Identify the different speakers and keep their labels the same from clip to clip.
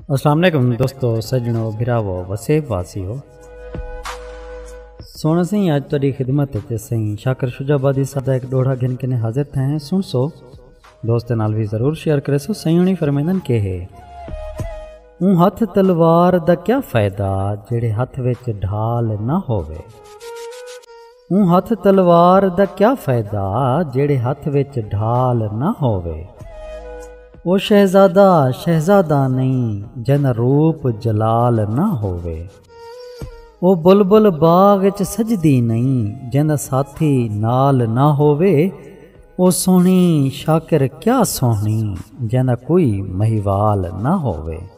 Speaker 1: السلام علیکم دوستو سجنو بھراو وسیب واسیو سونا سائیں اج تیری خدمت تے سائیں شاکر شجاع آبادی صاحب دا ایک ڈوڑا گھن کنے حاضر تھے ہیں سن سو دوست نال بھی ضرور شیئر کرے سو سائیں ہنی فرمیندن کے ہے اون ہتھ تلوار دا کیا فائدہ جڑے ہتھ وچ ڈھال نہ ہوے اوں ہتھ تلوار دا کیا فائدہ جیڑھے ہتھ وچ ڈھال نہ ہووے۔ او شہزادہ شہزادہ نئیں جیندا روپ جلال نہ ہووے۔ او بلبل باغ اچ سجدی نئیں جیندا ساتھی نال نہ ہووے۔ او سوہݨی شاکر کیا سوہݨی جیندا کوئی مہیوال نہ ہووے۔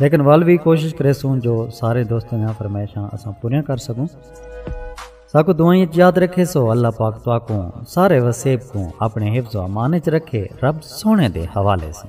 Speaker 1: لیکن ول وی کوشش کریسوں جو سارے دوستاں دیاں فرمائشاں اساں پوریاں کر سکوں ساکو دعائیں اچ یاد رکھے سو اللہ پاک تواکوں سارے وسیب کوں اپنے حفظ و امان اچ رکھے رب سونے دے حوالے سے